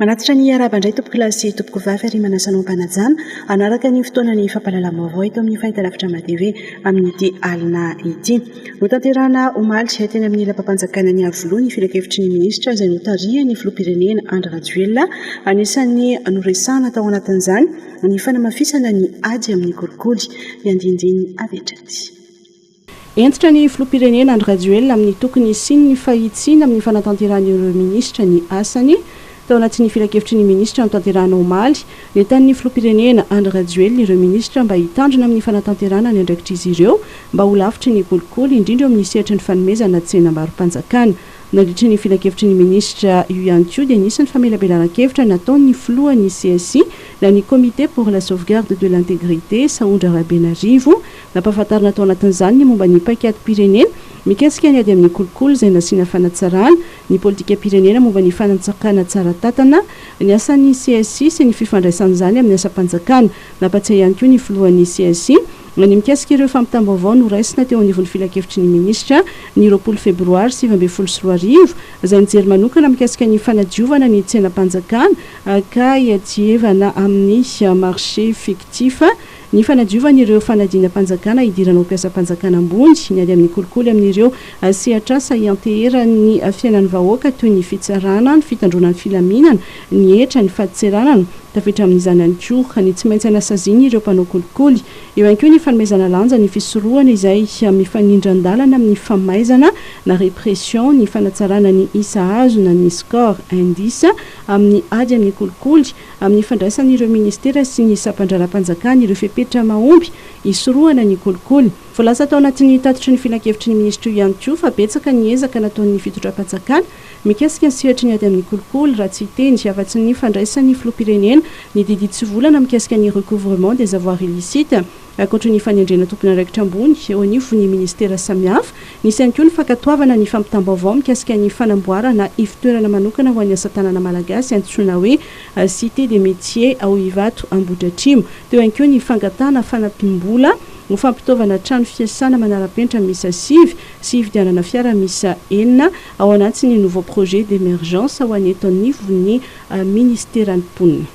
Manatitra ny hiarahaba indray tompokolahy sy tompokovavy ary manasa anao mpanajana hanaraka ny fotoanan'ny fampahalalam-baovao eto amin'ny fahitalavitra Madv amin'ity alina ity. Notanterahina omaly teny amin'ny lapam-panjakana any Iavoloha ny filankevitry ny minisitra izay notarihan'ny filoham-pirenena Andry Rajoelina. Anisan'ny noresahana tao anatin'izany ny fanamafisana ny ady amin'ny kolikoly. Ny andinindininy avy hatrany. Hentitra ny filoham-pirenena Andry Rajoelina amin'ny tokony hisian'ny fahitsiana amin'ny fanatanterahan'ireo minisitra ny asany. Tao anatin'ny filankevitry ny minisitra notanterahana omaly, nentanin'ny filoham-pirenena Andry Rajoelina ireo minisitra mba hitandrina amin'ny fanatanterahana ny andraikitr'izy ireo mba ho lavitry ny kolikoly, indrindra eo amin'ny sehatry ny fanomezana tsenam-barom-panjakana. Nandritra ny filankevitry ny minisitra io ihany koa dia nisy ny famelabelaran-kevitra nataon'ny filohan'ny csi na ny Comité pour la sauvegarde de l'intégrité, Sahondra Rabenarivo, Nampahafantarina tao anatin'izany ny momba ny paikadim-pirenena mikasika ny ady amin'ny kolikoly izay nasiana fanatsarana, ny politikam-pirenena momba ny fanantsakana tsara tantana, ny asan'ny CSI sy ny fifandraisan'izany amin'ny asam-panjakana. Nampatsiahy ihany koa ny filohan'ny CSI ny mikasika ireo fampitam-baovao noraisina teo anivon'ny Filankevitry ny Minisitra ny roapolo Febroary sivy ambin'ny folo sy roa arivo izay nijery manokana mikasika ny fanadiovana ny tsenam-panjakana ka hiadievana amin'ny marché fictif ny fanadiovan'ireo fanadinam-panjakana hidirana ho mpiasam-panjakana ambony, ny ady amin'ny kolikoly amin'ireo sehatr'asa ianteheran'ny fiainan'ny vahoaka toy ny fitsarana, ny fitandroana ny filaminana, ny hetra, ny fadintserana. Tafiditra amin'izany ihany koa ny tsy maintsy anasazian'ireo mpanao kolikoly. Eo ihany koa ny fanomezana lanja ny fisorohana izay mifanindran-dalana amin'ny famaizana na répression, ny fanatsarana ny isa azo na ny score, indice, amin'ny ady amin'ny kolikoly, amin'ny fandraisan'ireo ministera sy ny sampandraharaham-panjakana ireo fepetra mahomby hisorohana ny kolikoly. Voalaza tao anatin'ny tatitry ny filankevitry ny minisitra io ihany koa fa betsaka ny ezaka nataon'ny fitondram-panjakana mikasika ny sehatry ny ady amin'ny kolikoly, raha tsy hiteny afa-tsy ny fandraisan'ny filoham-pirenena ny didy tsivolana mikasika ny recouvrement des avoirs illicites. Ankoatra ny fanendrena tompon'andraikitra ambony eo anivon'ny minisitera samihafa, nisy ihany koa ny fankatoavana ny fampitam-baovao mikasika ny fanamboarana ivotoerana manokana ho an'ny asa tanana malagasy antsoina hoe Cité des Métiers ao Ivato Ambohidratrimo. Teo ihany koa ny fangatahana fanampim-bola ho fampitaovana trano fiasana manara-penitra miisa sivy sy hividianana fiara miisa enina ao anatiny nouveau projet d'emergence ho an'ny eto anivon'ny minisiteran'ny mponina.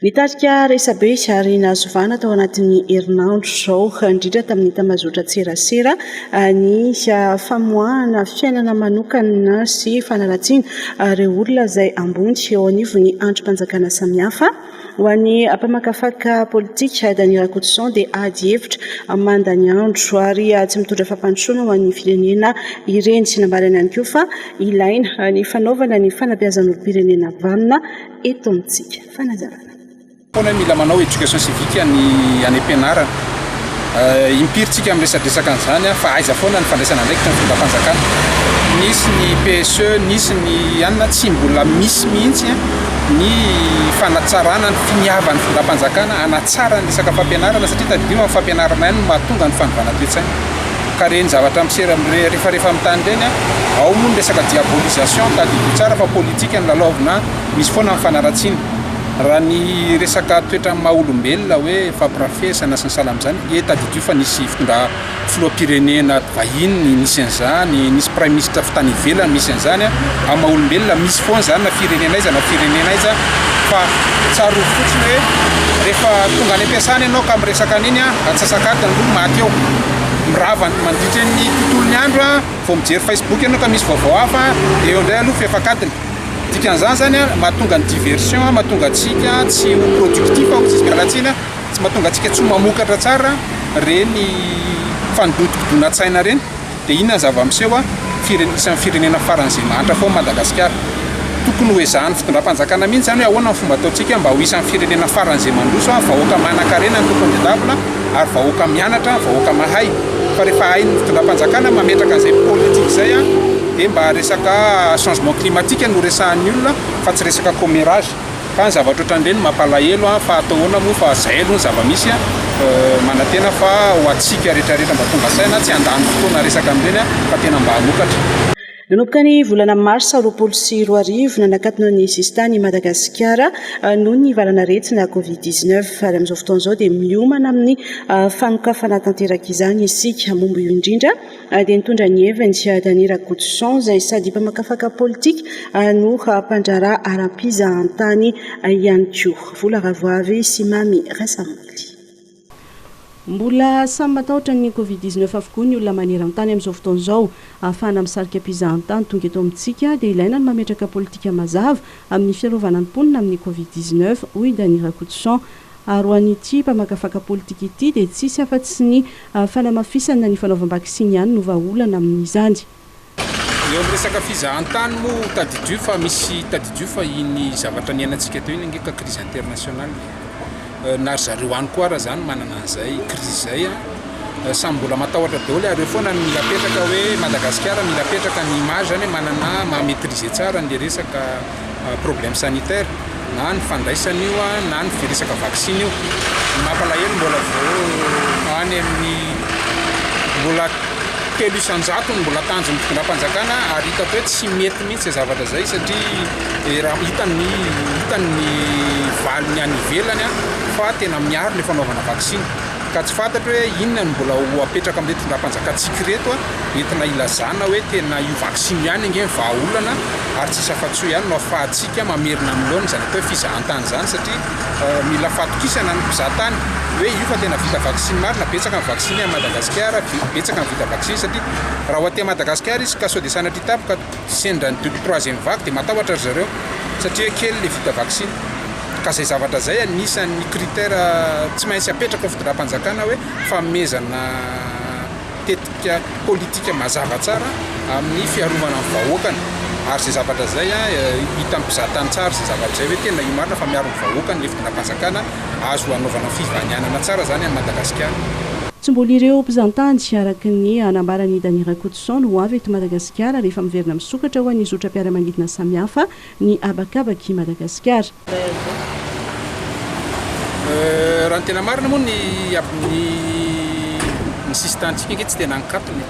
Nitarika resabe ary nahazo vahana tao anatin'ny herinandro izao indrindra tamin'ny tambazotran-tserasera ny famoahana fiainana manokana sy fanaratsiana ireo olona izay ambony eo anivon'ny andrim-panjakana samihafa. Ho an'ny mpamakafaka politika, Dany Rakotoson dia ady hevitra manda ny andro ary tsy mitondra fampandrosoana ho an'ny firenena ireny. Nambarany ihany koa fa ilaina ny fanaovana ny fanabeazan'olom-pirenena vanona. eto amintsika. Fanazavana. Foana mila manao éducation civique any any am-pianarana. Euh, impiry tsika amin'ny resadresaka an'izany an, fa aiza foana ny fandraisana andraikitra ny fitondram-panjakana. Nisy ny PSE, nisy ny anona tsy mbola misy mihitsy an, ny fanatsarana ny finiavan'ny fitondram-panjakana hanatsara ny resaka fampianarana satria tadidio amin'ny fampianarana ihany no mahatonga ny fanovana toe-tsaina. ka ireny zavatra misera mirefarefa amin'ny tany ireny an, ao moa ny resaka diabolisation, tadidio tsara fa politika no lalaovina an, misy foana ny fanaratsiana. Raha ny resaka toetran'ny maha olombelona hoe fampirafesana sy ny sahala amin'izany, ie tadidio fa nisy fitondra filoham-pirenena vahiny nisy an'izany, nisy prime ministre avy tany ivelany nisy an'izany an, amin'ny maha olombelona misy foana izany na firenena aiza na firenena aiza fa tsarovy fotsiny hoe rehefa tonga any am-piasana ianao ka miresaka an'iny an, antsasak'adiny aloha maty eo. Mirava mandritry ny tontolon'ny andro a, vao mijery Facebook ianao ka misy vaovao hafa, dia eo indray aloha fefak'adiny. Dikan'izany izany a, mahatonga ny diversion, mahatonga antsika tsy ho productif hoy isika ratsina, tsy mahatonga antsika tsy ho mamokatra tsara ireny fanodikodonatsaina ireny. Dia inona ny zava-miseho a, firen- isan'ny firenena faran'izay mahantra foana Madagasikara. Tokony ho ezahan'ny fitondram-panjakana mihitsy izany hoe ahoana ny fomba ataontsika mba ho isan'ny firenena faran'izay mandroso a, vahoaka manankarena ny tompony ny table a. ary vahoaka mianatra, vahoaka mahay, fa rehefa hain'ny fitondram-panjakana mametraka an'izay politique izay dia mba resaka changement climatique no resahan'ny olona fa tsy resaka commérage, ka ny zavatra ohatran'ireny mampalahelo fa atao ahoana moa fa izay aloha ny zava-misy, manantena fa ho antsika retraretra mba tonga saina tsy handany fotoana resaka an'ireny fa tena mba hanokatra. Nanomboka ny volana marsa roapolo sy roa arivo, nanakatona ny sisintany i Madagasikara noho ny valan'aretina Covid dix neuf, ary amin'izao fotoana izao dia miomana amin'ny fanokafana tanteraka izany isika. Momba io indrindra dia nitondra ny heviny Dany Rakotoson izay sady mpamakafaka politika no mpandraharaha ara-pizahantany ihany koa. Vola ravoavy sy mamy rasa-maty. Mbola samy matahotra ny covid dix neuf avokoa ny olona maneran-tany amin'izao fotoana izao. Ahafahana misarika mpizahantany tonga eto amintsika dia ilaina ny mametraka politika mazava amin'ny fiarovana ny mponina amin'ny covid dix neuf, hoy Dany Rakotoson. Ary ho an'ity mpamakafaka politika ity dia tsisy afa-tsy ny fanamafisana ny fanaovam-baksiny ihany no vahaolana amin'izany. Eo amin'ny resaka fizahantany moa tadidio fa misy tadidio fa iny zavatra niainantsika teo iny ange ka crise internationale e. Na ry zareo any koa ara zany manana an'izay crise zay a. Samy mbola matahotra daholo ary eo foana ny mila apetraka hoe Madagasikara mila apetraka ny image zany hoe manana maha-maitriser tsara an'le resaka. problème sanitaire na ny fandraisana io na ny resaka vaksiny io. Ny mampalahelo mbola vao any amin'ny mbola telo isan-jato no mbola tanjon'ny fitondram-panjakana ary hitako hoe tsy mety mihitsy izay zavatra izay satria raha hitany ny hitany ny valiny any ivelany fa tena miaro ilay fanaovana vaksiny. ka tsy fantatro hoe inona no mbola ho apetraka amin'ireto fitondram-panjakantsika ireto entina ilazana hoe tena io vaksiny io ihany ange ny vahaolana ary tsisy afa-tsy io ihany no afahantsika mamerina amin'ny laoniny izany atao hoe fizahantany izany satria mila fahatokisana ny mpizahatany hoe io fa tena vita vaksiny marina, betsaka ny vaksiny any Madagasikara, betsaka ny vita vaksiny satria raha ho aty Madagasikara izy ka sao dia sanatria tampoka sendra ny double troisième vague dia matahotra ry zareo satria kely le vita vaksiny ka zay zavatra zay anisan'ny critère tsy maintsy apetraka ao fitondram-panjakana hoe fanomezana tetika politika mazava tsara amin'ny fiarovana ny vahoakany ary zay zavatra zay a hitan'ny mpizahatany tsara zay zavatra zay hoe tena io marina fa miaro ny vahoakany le fitondram-panjakana azo anaovana fivanianana tsara zany any Madagasikara. Tsy mbola ireo mpizantany, araka ny hanambaran'i Dany Rakotoson, ho avy eto Madagasikara. Gasikara rehefa miverina misokatra ho an'ny zotram-piaramanidina samihafa ny habakabak'i Madagasikara. Raha ny tena marina moa ny ny ny sisin-tanintsika ange tsy tena ankatony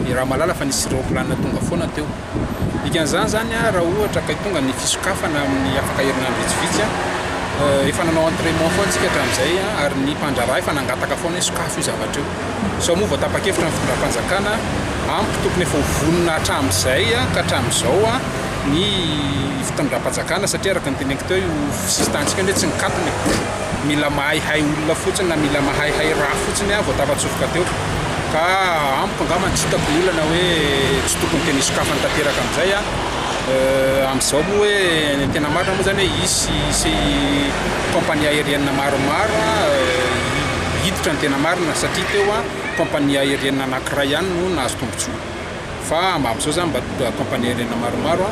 e, raha mahalala fa nisy raoplanina tonga foana teo. Dikan'izany zany a, raha ohatra kay tonga ny fisokafana amin'ny afaka herinandro vitsivitsy a, efa nanao entraiments foana tsika hatramin'izay a, ary ny mpandraharaha efa nangataka foana hoe sokafo io zavatra io. Izao moa vao tapa-kevitra ny fitondram-panjakana, ampy tokony efa ho vonona hatramin'izay ka hatramin'izao ny fitondram-panjakana satria araka ny teneniko teo io sisin-tanintsika anie tsy nikatona e! mila mahaihay olona fotsiny na mila mahaihay raha fotsiny vao tafatsofoka teo ka amiko angamba ny tsy hitako ny olana hoe tsy tokony tena hisokafany tanteraka amin'izay amin'izao moa hoe ny tena marina moa izany hoe hisy compagnie aérienne maromaro hiditra ny tena marina satria teo an compagnie aerienne anakiray ihany no nahazo tombotsoa fa amin'izao izany mba compagnie aerienne maromaro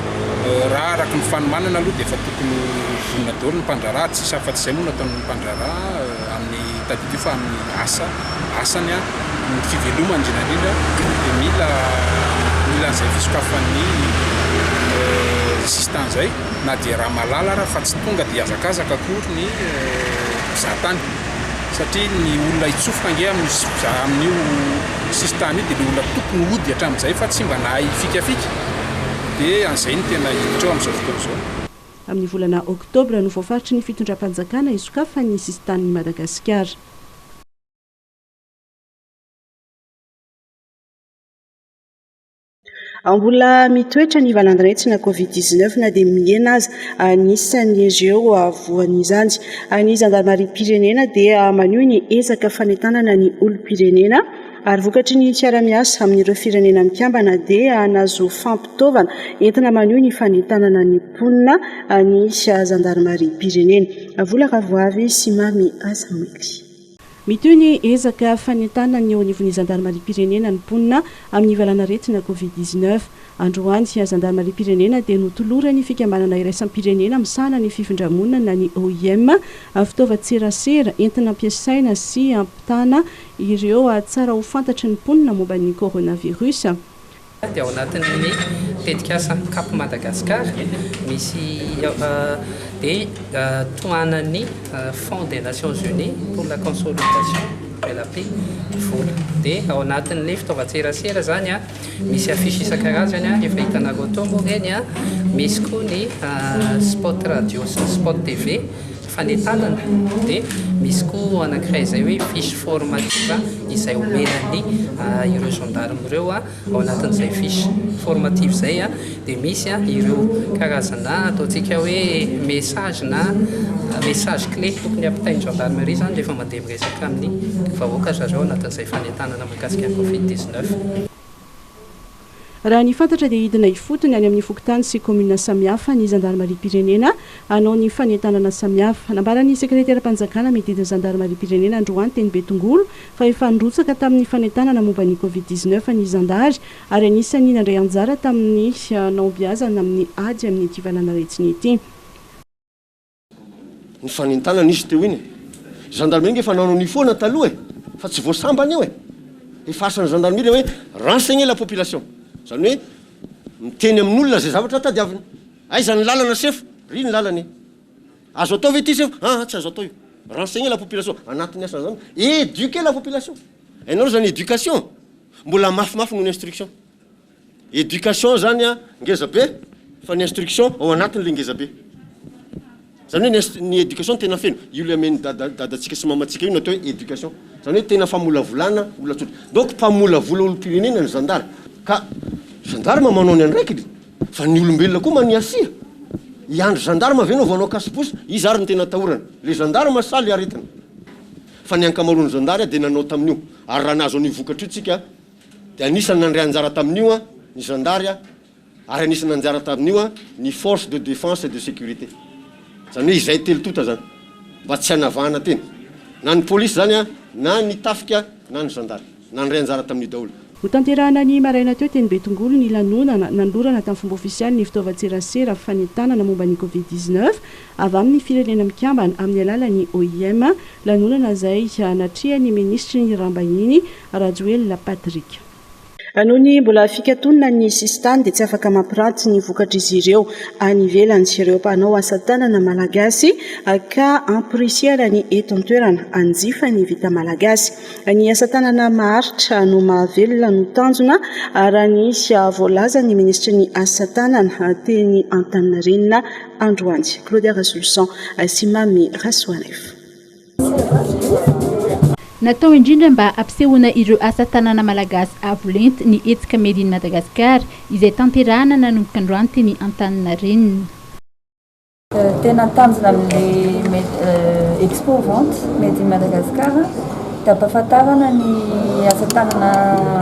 raha araka ny fanomanana aloha dia efa tokony ho vonona daholo ny mpandraharaha ary tsisy afa-tsy izay moa no ataon'ny mpandraharaha amin'ny tadidio fa amin'ny asa asany an ny fivelomany indrindra indrindra dia mila mila an'izay fisokafan'ny sisintany izay na dia raha malala ary fa tsy tonga dia hazakazaka akory ny mpizahatany satria ny olona hitsofoka ange amin'io sisintany io dia ilay olona tokony hody hatramin'izay fa tsy mba nahay hifikafika, dia an'izay no tena hiditra eo amin'izao fotoana izao. Amin'ny volana oktobra no voafaritry ny fitondram-panjakana hisokafany ny sisintanin'i Madagasikara. Ao mbola mitoetra ny valan-dRaitsy na Covid 19 na dia mihena aza. Anisan'ireo voan'izany ny zandarimariam-pirenena dia maneho ny ezaka fanentanana ny olom-pirenena ary vokatry ny fiaraha-miasa amin'ireo firenena mikambana dia nahazo fampitaovana entina maneho ny fanentanana ny mponina ny zandarimariam-pirenena. Vola ravoavy sy mamy aza mety. Mitohy ny ezaka fanentanana ny eo anivon'ny zandarimariam-pirenena ny mponina amin'ny valanaretina covid dix-neuf. Androany, zandarimariam-pirenena dia notoloran'ny fikambanana iraisam-pirenena misahana ny fifindra-monina ny OIM fitaovan-tserasera entina ampiasaina sy ampitana ireo tsara ho fantatry ny mponina momba ny coronavirus. dia ao anatin'ny tetikasa Cap Madagascar misy dia tohanan'ny Fonds des Nations Unies pour la consolidation de la paix ny vola dia ao anatin'ny fitaovan-tserasera zany a misy affiche isan-karazany a efa hitanareo tao moa ireny a misy koa ny spot radio sy ny spot TV fanentanana dia misy koa anankiray izay hoe fiche formative izay omena ny ireo gendarmes ireo ao anatin'izay fiche formative izay dia misy ireo karazana ataontsika hoe message na message clé tokony hampitain'ny gendarmerie izany rehefa mandeha miresaka amin'ny vahoaka zareo anatin'izay fanentanana mikasika ny covid 19. Raha ny fantatra dia hidina ifotony any amin'ny fokontany sy kaominina samihafa ny zandarimariam-pirenena hanao ny fanentanana samihafa. Nambaran'ny sekreteram-panjakana mididy ny zandarimariam-pirenena androany teny Betongolo fa efa nirotsaka tamin'ny fanentanana momba ny Covid dix-neuf ny zandary ary anisan'ny nandray anjara tamin'ny nahombiazana amin'ny ady amin'ity valanaretina ity. Nifanintana nisy teo iny e! Gendarmerie nge efa nanao ny foana taloha e! Fa tsy vao sambany io e! Efa asa ny gendarmerie le hoe renseigner la population. Zany hoe miteny amin' olona zay zavatra tadiaviny. Aiza ny lalana sefo? Ry ny lalana e! Azo atao ve ity sefo? Aa tsy azo atao io. Renseigner la population. Anatin'ny asa zany. Eduquer la population. Hainareo zany education? Mbola mafimafy noho ny instruction. Education zany a ngeza be fa ny instruction ao anatiny le ngeza be. Zany hoe ny education tena feno io le amen'i dada dadatsika sy mamantsika io no atao hoe education. Zany hoe tena famolavolana olona tsotra. Donc mpamolavola olom-pirenena ny zandary. Ka gendarme manao ny andraikiny fa ny olombelona koa mania sia. Hiandry gendarme ve enao vao hanao casse-bouche? Iza ary no tena atahorana? Le gendarme sa le aretina? Fa ny ankamaroan'ny zandary dia nanao tamin'io. Ary raha nahazo an'io vokatra io tsika, dia anisan'ny nandray anjara tamin'io ny zandary ary anisan'ny nanjara tamin'io ny force de défense et de sécurité, izany hoe izay telo tonta izany, mba tsy hanavahana tena, na ny polisy izany na ny tafika na ny zandary, nandray anjara tamin'io daholo. Notanterahina ny maraina teo teny Betongolo ny lanonana nanolorana tamin'ny fomba ofisialy ny fitaovan-tserasera fanentanana momba ny Covid dix neuf avy amin'ny Firenena Mikambana amin'ny alalan'ny OIM, lanonana izay natrehan'ny Minisitry ny Raharaham-bahiny Rajoelina Patrick. Raha noho ny mbola fikatonana ny sisintany dia tsy afaka mampiranty ny vokatr'izy ireo any ivelany ireo mpanao asa tanana malagasy ka ampirisihana ny eto an-toerana hanjifa ny vita malagasy. Ny asa tanana maharitra no mahavelona no tanjona raha ny voalazan'ny minisitry ny asa tanana teny Antaninarenina androany. Claudia Rasoloson sy Mamy Rasoanaivo. Natao indrindra mba hampisehoana ireo asa tanana malagasy avo lenta ny hetsika Made in Madagascar izay tanterahana nanomboka androany teny Antaninarenina. Tena tanjona amin'ny Expo Vente Made in Madagascar dia hampahafantarana ny asa tanana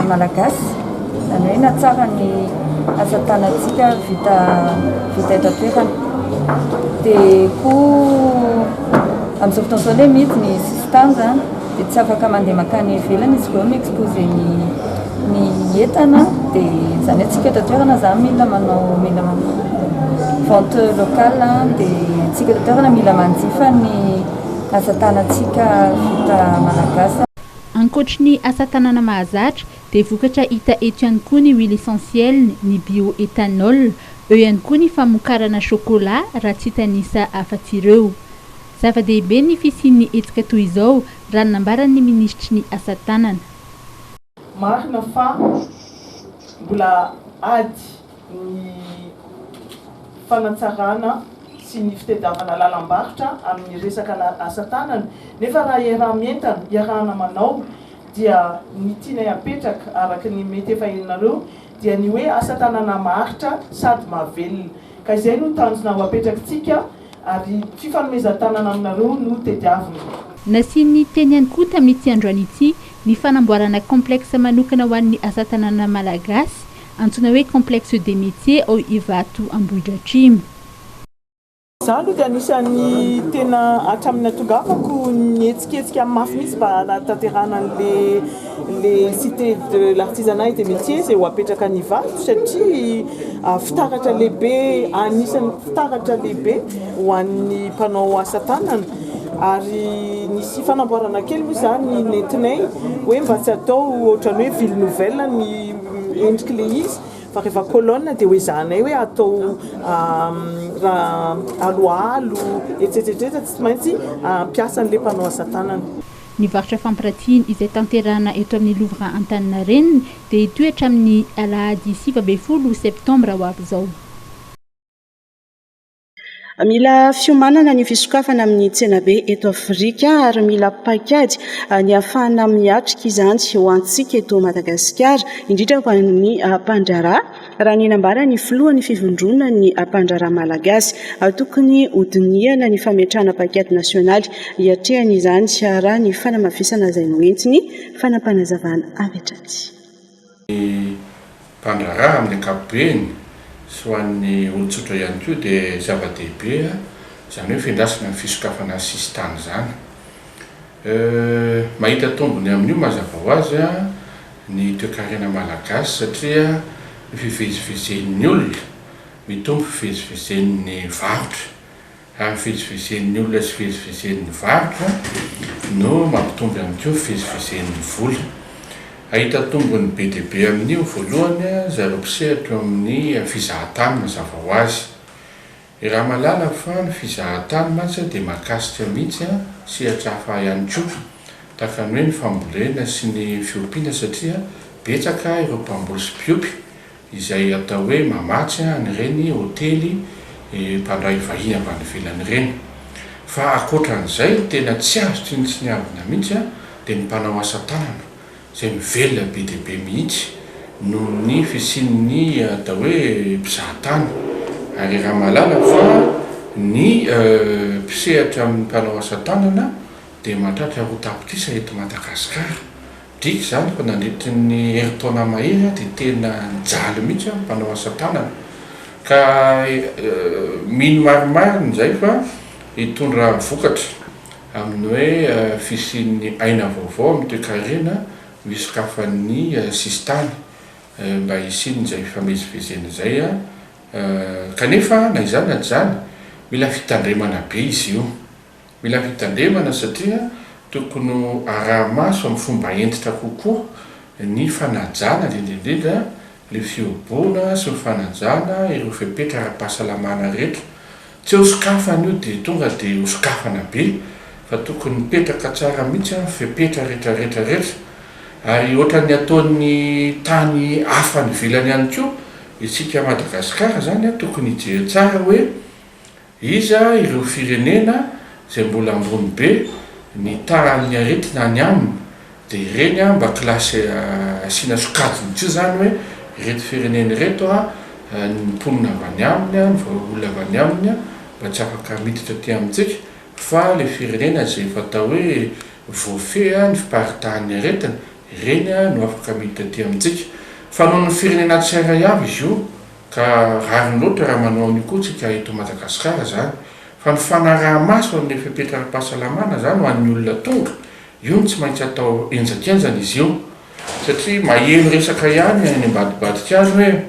malagasy, izany hoe hanatsara ny asa tanantsika vita eto an-toerana. Dia koa. Amin'izao fotoana izao ilay mihidy ny sisintany izany dia tsy afaka mandeha mankany ivelany izy ireo mi-exposer ny ny entana dia izany hoe tsika eto an-toerana izany mila manao mila vente locale dia tsika eto an-toerana mila manjifa ny asa tanantsika vita malagasy. Ankoatry ny asa tanana mahazatra Dia vokatra hita eto ihany koa ny huile essentielle, ny bioethanol, eo ihany koa ny famokarana chocolat raha tsy hitanisa afa-tsy ireo. Zava-dehibe ny fisian'ny hetsika toy izao raha ny nambaran'ny minisitry ny asa tanana. Marina fa mbola ady ny fanatsarana sy ny fitediavana lalam-barotra amin'ny resaka asa tanana nefa raha iaraha-mientana, iarahana manao dia ny tianay apetraka araka ny mety efa henonareo dia ny hoe asa tanana maharitra sady mahavelona ka izay no tanjona ho apetrakitsika ary fifanomezan-tanana aminareo no tediavina. Nasiany teny ihany koa tamin'ity androany ity ny fanamboarana complexe manokana ho an'ny asa tanana malagasy antsoina hoe complexe des métiers ao Ivato Ambohidratrimo. Izaho aloha dia anisan'ny tena hatramin'ny natongavako nihetsiketsika amin'ny mafy mihitsy mba hanatanterahana an'ilay Cité de l'artisanat et des métiers izay ho apetraka any Ivato satria fitaratra lehibe, anisan'ny fitaratra lehibe ho an'ny mpanao asa tanana ary nisy fanamboarana kely moa izany nentinay hoe mba tsy atao ohatran'ny hoe ville nouvelle ny endrik'ilay izy. Fa rehefa colonne dia hoezahanay hoe atao raha aloalo etsetsetreta tsy maintsy hampiasa an'ilay mpanao asa tanana. Ny varotra fampiratiana izay tanterahina eto amin'ny Louvre Antaninarenina dia hitohy hatramin'ny alahady sivy ambin'ny folo septambra ho avy izao. Mila fiomanana ny fisokafana amin'ny tsenabe eto Afrika ary mila paikady ny hahafahana miatrika izany ho antsika eto Madagasikara, indrindra ho an'ny mpandraharaha, raha ny nambaran'ny filohan'ny Fivondronan'ny mpandraharaha malagasy. Tokony hodinihana ny fametrahana paikady nasionaly hiatrehana izany, raha ny fanamafisana izay noentiny fanapanazavana avy hatraty. Ny mpandraharaha amin'ny ankapobeny sy ho an'ny olon-tsotra ihany koa dia zava-dehibe izany hoe fiandrasana ny fisokafana ny sisintany izany. Mahita tombony amin'io mazava ho azy ny toekarena malagasy satria ny fivezivezen'ny olona mitombo fivezivezen'ny varotra Ary fivezivezen'ny olona sy fivezivezen'ny varotra no mampitombo ihany koa fivezivezen'ny vola. Hahita tombony be dia be amin'io, voalohany, zareo mpisehatra eo amin'ny fizahantany mazava ho azy. Iaraha mahalala fa ny fizahantany mantsy dia mahakasika mihitsy sehatra hafa ihany koa, tahaka ny hoe ny fambolena sy ny fiompiana satria betsaka ireo mpamboly sy mpiompy. izay atao hoe mamatsy an'ireny hotely mpandray vahiny avy any ivelany ireny. Fa ankoatra an'izay, ny tena tsy azo tsinontsiniavina mihitsy dia ny mpanao asa tanana, izay mivelona be dia be mihitsy noho ny fisian'ny atao hoe mpizaha tany. Ary raha mahalala fa ny mpisehatra amin'ny mpanao asa tanana dia mahatratra roa tapitrisa eto Madagasikara, Driaka izany fa nandritry ny herintaona mahery aho dia tena nijaly mihitsy aho mpanao asa tanana ka mino marimarina izay fa hitondra vokatra amin'ny hoe fisian'ny aina vaovao amin'ny toekarena misokafan'ny sisintany mba hisian'izay fifamezivezena izay kanefa na izany na tsy izany mila fitandremana be izy io. Mila fitandremana satria tokony ho araha-maso amin'ny fomba hentitra kokoa ny fanajana indrindra indrindra ireo fihoboana sy ny fanajana ireo fepetra ara-pahasalamana rehetra. Tsy eo sokafana io dia tonga dia ho sokafana be fa tokony mipetraka tsara mihitsy ny fepetra rehetra rehetra rehetra ary ohatran'ny ataon'ny tany hafa any ivelany ihany koa isika Madagasikara izany tokony hijery tsara hoe Iza ireo firenena izay mbola ambony be ny tahan'ny aretina any aminy dia ireny an mba classe asiana sokajiny tsy izany hoe ireto firenena ireto an ny mponina avy any aminy an ny vahaolona avy any aminy an mba tsy afaka miditra aty amintsika fa ilay firenena izay efa atao hoe voafehy an ny fiparitahan'ny aretina ireny an no afaka miditra aty amintsika fa nohon'ny firenena tsirairay avy izy io Ka rariny loatra raha manao an'io koa tsika eto Madagasikara zany. Fa ny fanaraha-maso an'le fepetra ara-pahasalamana zany ho an'ny olona tonga, io no tsy maintsy atao henjakenjana izy io. Satria maheno resaka ihany any ambadibadika any hoe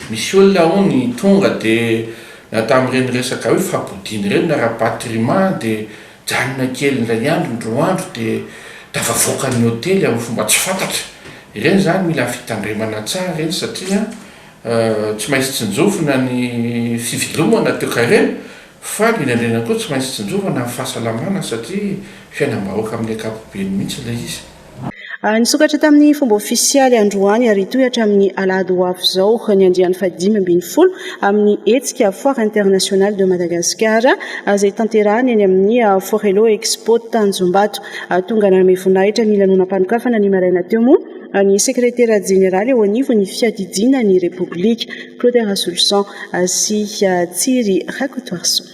misy olona hono tonga de na tamin'ireny resaka hoe fampodiana ireny na rapatriement de Nijanona kely indray andro ny roa andro dia tafavoaka ny hotely amin'ny fomba tsy fantatra. Ireny izany mila fitandremana tsara ireny satria tsy maintsy tsinjovina ny fivelomana teo Karena fa indrindra indrindra koa tsy maintsy tsinjovana ny fahasalamana satria fiainam-bahoaka amin'ny ankapobeny mihitsy ilay izy. Nisokatra tamin'ny fomba ofisialy androany ary hitohy hatramin'ny alahady ho avy izao ny andiany fahadimy ambin'ny folo amin'ny hetsika Foire internationale de Madagascar izay tanterahina eny amin'ny Forello Expo Tanjombato. Tonga nanome voninahitra ny lanonam-panokafana ny maraina teo moa ny sekretera jeneraly eo anivon'ny fiadidiana ny Repoblika, Claude Rasoloson sy Tsiry Rakotoarison.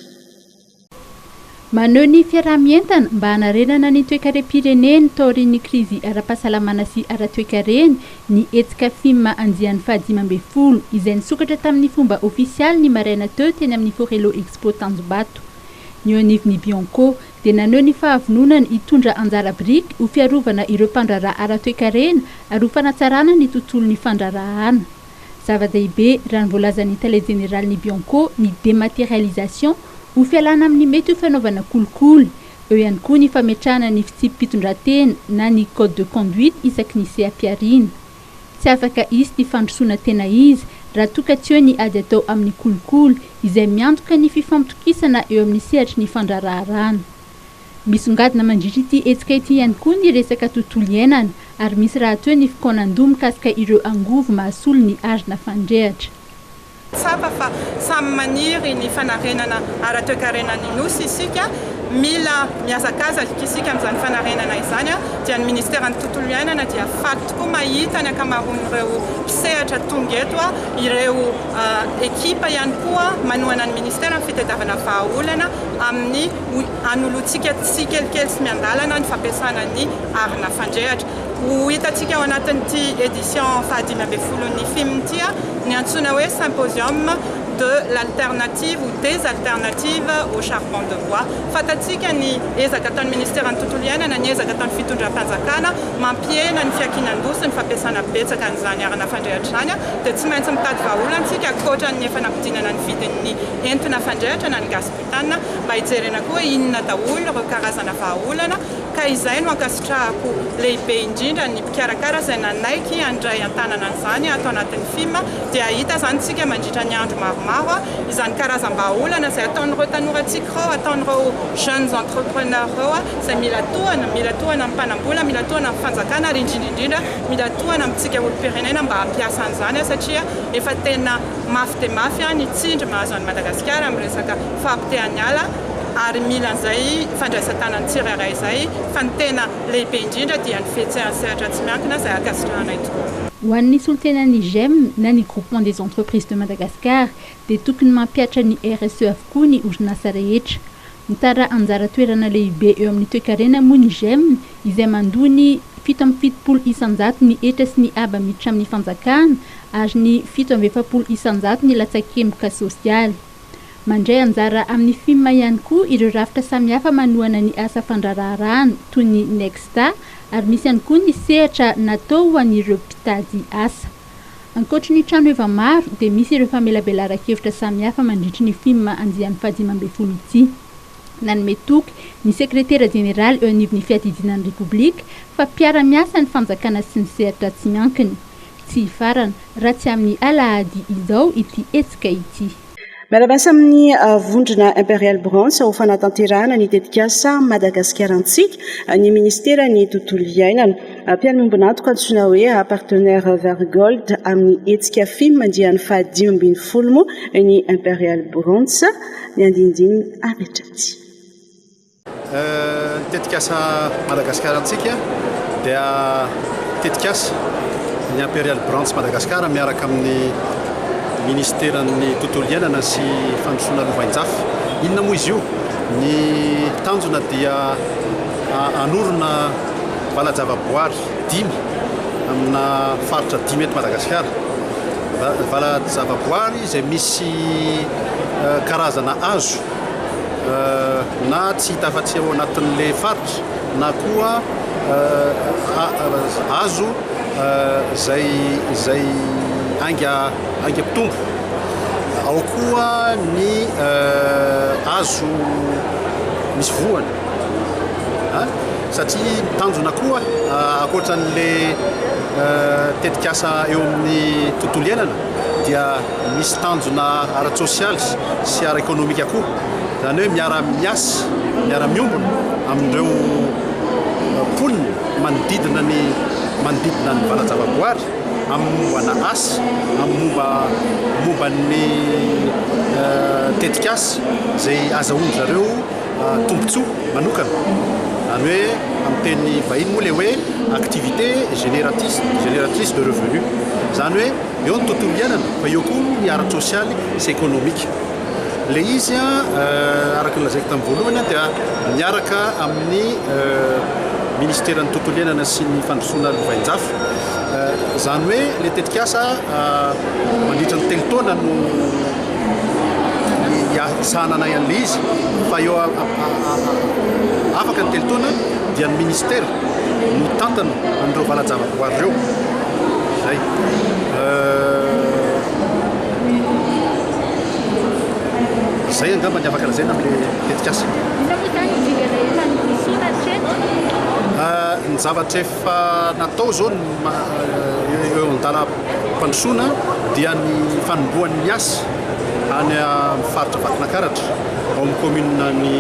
Maneho ny fiaraha-mientana mba hanarenana ny toekarem-pireneny taorian'ny krizy ara-pahasalamana sy ara-toekareny ny hetsika fim andiany fahadimy ambin'ny folo izay nisokatra tamin'ny fomba ofisialy ny maraina teo teny amin'ny Forello Expo Tanjombato. Ny eo anivon'ny Bianco dia naneho ny fahavononany hitondra anjara biriky ho fiarovana ireo mpandraharaha ara-toekarena ary ho fanatsarana ny tontolon'ny fandraharahana. Zava-dehibe, raha ny voalazan'ny tale jeneralin'ny Bianco, ny dématérialisation, ho fialana amin'ny mety ho fanaovana kolikoly. Eo ihany koa ny fametrahana ny fitsipi-pitondrantena na ny code de conduite isaky ny seha-pihariana. Tsy afaka hisy ny fandrosoana tena izy raha toa ka tsy eo ny ady atao amin'ny kolikoly izay miantoka ny fifampitokisana eo amin'ny sehatry ny fandraharaharàna. Misongadina mandritra ity hetsika ity ihany koa ny resaka tontolo iainana ary misy rahateo ny fikaonandoha mikasika ireo angovo mahasolo ny arina fandrehatra. Tsapa fa samy maniry ny fanarenana ara-toekarenan'ny Nosy isika. Mila mihazakazaka isika amin'izany fanarenana izany dia ny Ministeran'ny Tontolo iainana dia faly tokoa mahita ny ankamaroan'ireo mpisehatra tonga eto, ireo ekipa ihany koa manohana ny Ministeran'ny Fitadiavana vahaolana amin'ny. Ho anoloantsika tsikelikely sy miandalana ny fampiasana ny arina fandrehatra. Ho hitantsika ao anatin'ity édition fahadimy ambin'ny folon'ny fim ity ny antsoina hoe Symposium de l'alternative ou des alternatives au charbon de bois. Fantatsika ny ezaka ataon'ny Ministeran'ny Tontolo Iainana, ny ezaka ataon'ny Fitondram-panjakana mampihena ny fiankinan-doha sy ny fampiasana betsaka an'izany arina fandrehatra izany dia tsy maintsy mitady vahaolana isika ankoatra ny efa nampidinana ny vidin'ny entona fandrehatra na ny gaz Tanana mba hijerena koa inona daholo ireo karazana vahaolana ka izay no ankasitrahako lehibe indrindra ny mpikarakara izay nanaiky handray an-tanana an'izany ato anatin'ny film dia hahita izany tsika mandritra ny andro maromaro izany karazam-bahaolana izay ataon'ireo tanorantsika ireo ataon'ireo jeunes entrepreneurs ireo izay mila tohana mila tohana amin'ny mpanambola mila tohana amin'ny fanjakana ary indrindra indrindra mila tohana amintsika olom-pirenena mba hampiasa an'izany satria efa tena Mafy dia mafy ny tsindry mahazo an'i Madagasikara amin'ny resaka fahapotehan'ny ala ary mila an'izay fandraisan-tanan'ny tsirairay izay fa ny tena lehibe indrindra dia ny fihetsehany sehatra tsy miankina izay ankasitrahanay tokoa. Ho an'ny solontenan'ny Gem na ny Groupement des Entreprises de Madagascar dia tokony mampihatra ny RSE avokoa ny orinasa rehetra. Mitaraha anjara toerana lehibe eo amin'ny toekarena moa ny Gem izay mandoa ny fito amby fitopolo isan-jato ny hetra sy ny haba miditra amin'ny fanjakana ary ny fito amby efapolo isan-jato ny latsakemboka sosialy. Mandray anjara amin'ny fim ihany koa ireo rafitra samihafa manohana ny asa fandraraharahana toy ny Nexta ary misy ihany koa ny sehatra natao ho an'ireo mpitady asa. Ankoatry ny trano eva maro dia misy ireo famelabelaran-kevitra samihafa mandritry ny fim andiany fahadimy ambin'ny folo ity. Nanome toky ny sekretera jeneraly eo anivon'ny fiadidiana ny Repoblika fa mpiara-miasa ny fanjakana sy ny sehatra tsy miankina. Tsy hifarana, raha tsy amin'ny alahady izao, ity hetsika ity. Miara-miasa amin'ny vondrona Imperial Brands ho fanatanterahana ny tetikasa Madagasikara Antsika ny Minisiteran'ny Tontolo Iainana. Mpiara-miombon'antoka antsoina hoe Partenaires Vert Gold amin'ny hetsika Fim andiany fahadimy ambin'ny folo moa ny Imperial Brands. Ny andinindininy avy hatraty. Ny tetikasa Madagascar Antsika dia tetikasa ny Imperial Branch Madagascar miaraka amin'ny Minisiteran'ny Tontolo Iainana sy Fandrosoana Lovainjafy. Inona moa izy io? Ny tanjona dia hanorina vala-javaboary dimy amina faritra dimy eto Madagasikara. Vala-javaboary izay misy karazana hazo. na tsy hita afa-tsy ao anatin'ilay faritra na koa azo izay izay ainga ainga mpitombo ao koa ny azo misy voany a satria ny tanjona koa ankoatra an'ilay tetikasa eo amin'ny tontolo iainana dia misy tanjona ara-tsosialy sy ara-ekonomika koa, izany hoe miara-miasa, miara-miombona amin'ireo mponina manodidina ny manodidina ny valan-javaboary amin'ny mombana asa, amin'ny momba momba ny tetikasa izay azahoan-dry zareo. tombontsoa manokana, izany hoe amin'ny teny vahiny moa ilay hoe activité génératrice génératrice de revenu, izany hoe eo ny tontolo iainana fa eo koa ny ara-tsosialy sy ekonomika. Ilay izy an, araka ny lazaiko tamin'ny voalohany an, dia miaraka amin'ny Ministeran'ny tontolo iainana sy ny fandrosoana lovain-jafy, izany hoe ilay tetikasa mandritra ny telo taona no hiasananay an'ilay izy fa eo afaka ny telo taona dia ny ministera no tantana an'ireo valan-javaboary ireo zay zay angamba ny afaka lazaina amin'ilay tetikasa ny zavatra efa Fa natao izao ny eo an-dalam-pandrosoana dia ny fanombohan'ny miasa any amin'ny faritra Vakinankaratra ao amin'ny kaominina ny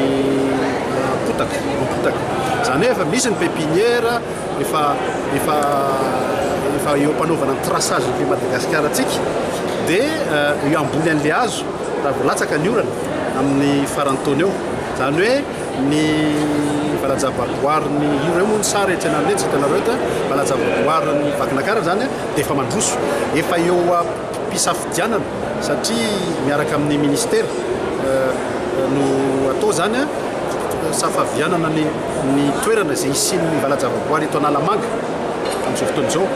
Ampotaka, Ampotaka. Izany hoe efa misy ny pepiniera, efa efa efa eo am-panaovana ny traçage ny Madagasikara antsika dia eo ambony an'ilay hazo raha vao latsaka ny orana amin'ny faran'ny taona eo. Izany hoe. Ny valajavaboarin'ny ireo moa ny sary etsy anareo etsy hitanareo eto a, valajavaboarin'ny Vakinakarana izany a dia efa mandroso, efa eo am-pisafidianana satria miaraka amin'ny Ministera no atao izany a, safavianana ny ny toerana izay hisian'ny valajavaboary eto Analamanga amin'izao fotoana izao,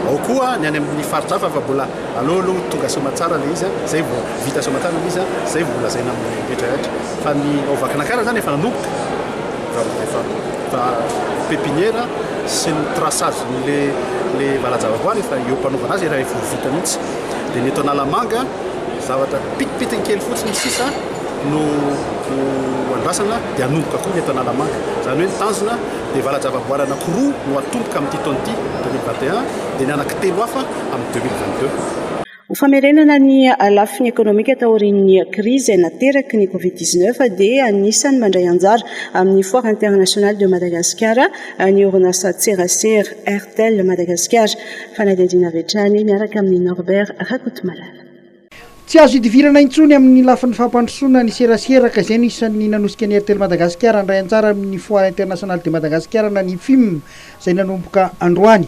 ao koa ny any amin'ny faritra hafa fa mbola aleo aloha tonga Soamatsara ilay izy a, izay vao vita Soamatsara ilay izy a, izay vao lazaina amin'ny rehetra rehetra. Fa ny ao Vakinankaratra izany efa nanomboka, raha efa nanomboka pepiniera sy ny traçage le le valajavaboary efa eo am-panaovana azy efa efa vita mihitsy. Dia ny eto Analamanga zavatra pitipitiny kely fotsiny sisa no ho andrasana dia hanomboka koa ny eto Analamanga. Izany hoe ny tanjona dia valajavaboary anankiroa no hatomboka amin'ity taona ity, 2021, dia ny anankitelo hafa amin'ny 2022. Ho famerenana ny lafiny ekonomika taorian'ny krizy izay nateraky ny Covid dix-neuf dia anisan'ny mandray anjara amin'ny Foire Internationale de Madagascar ny orinasantserasera Airtel Madagascar. Fanadihadiana avy hatrany miaraka amin'i Norbert Rakotomalala. Tsy azo idivirana intsony amin'ny lafiny fampandrosoana ny serasera ka izay no isan'ny nanosika ny Airtel Madagascar handray anjara amin'ny Foire Internationale de Madagascar na ny FIM izay nanomboka androany.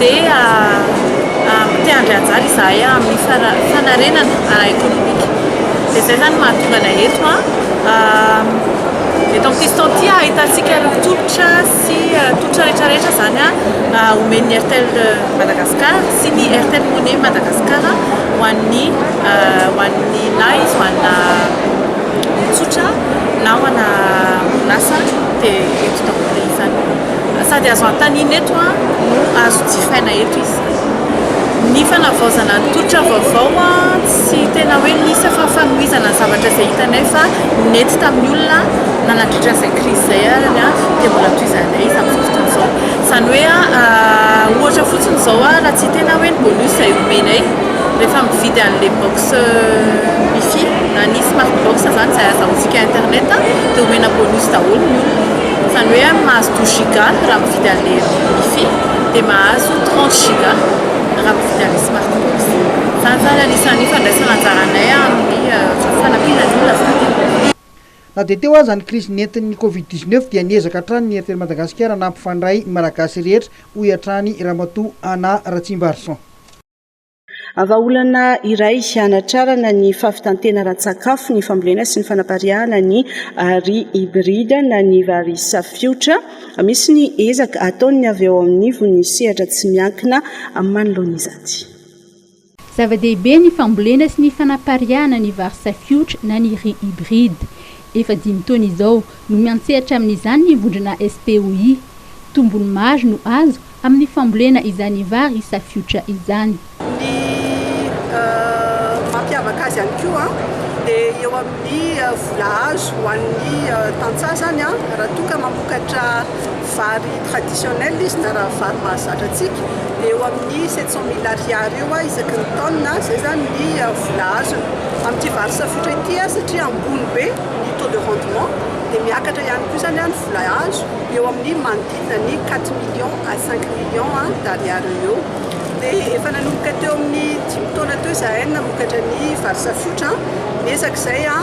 dia mpiandry anjara izahay amin'ny fanarenana ara-ekonomika dia izay izany no mahatonga anay eto eto amin'ny fiston ity ahitantsika ireo tolotra sy tolotra rehetra rehetra izany omen'ny Airtel Madagascar sy ny Airtel Money Madagascar ho an'ny ho an'ny na izy ho anà olon-tsotra na ho anà orinasa dia eto daholo izany Sady azo antanina eto no azo jifaina eto izy. Ny fanavaozana ny tolotra vaovao tsy tena hoe nisy fa fanohizana ny zavatra izay hitanay fa nety tamin'ny olona na nandritra an'izay krizy izay ary dia mbola tohizanay izy amin'izao fotoana izao. Izany hoe ohatra fotsiny izao raha tsy tena hoe ny bonus izay omenay rehefa mividy an'ilay box wifi na ny smart box izany izay azahoantsika internet dia omena bonus daholo ny olona. Izany hoe amin'ny mahazo douze giga raha mividy an'ilay wifi dia mahazo trente giga raha mividy an'ilay smartphone. Izany izany anisan'ny ifandraisana anjaranay amin'ny fanampiana ny olona. Na dia teo aza ny krizy nentin'ny Covid dix neuf dia niezaka hatrany ny Airtel Madagasikara nampifandray ny Malagasy rehetra, hoy hatrany Ramatoa Anna Ratsimbarison. Vahaolana iray hanatrarana ny fahavitan-tena ara-tsakafo ny fambolena sy ny fanapariahana ny Ri hybride na ny vary safiotra. Misy ny ezaka ataon'ny avy ao anivon'ny sehatra tsy miankina manoloana izany. Zava-dehibe ny fambolena sy ny fanapariahana ny vary safiotra na ny Ri hybride. Efa dimy taona izao no miantsehatra amin'izany ny vondrona SPOI. Tombony maro no azo Amin'ny fambolena izany vary safiotra izany. Ny mampiavaka azy ihany koa dia eo amin'ny vola azo ho an'ny tantsaha izany raha toa ka mamokatra vary traditionnel izy na raha vary mahazatra antsika dia eo amin'ny sept cent mille ariary eo isaky ny taonina, izay izany ny vola azony. Amin'ity vary safiotra ity satria ambony be ny taux de rendement dia miakatra ihany koa izany ny vola azo eo amin'ny manodidina. izany hoe quatre millions à cinq millions d'ariary eo eo dia efa nanomboka teo amin'ny dimy taona teo izahay namokatra ny vary safotra miezaka izay a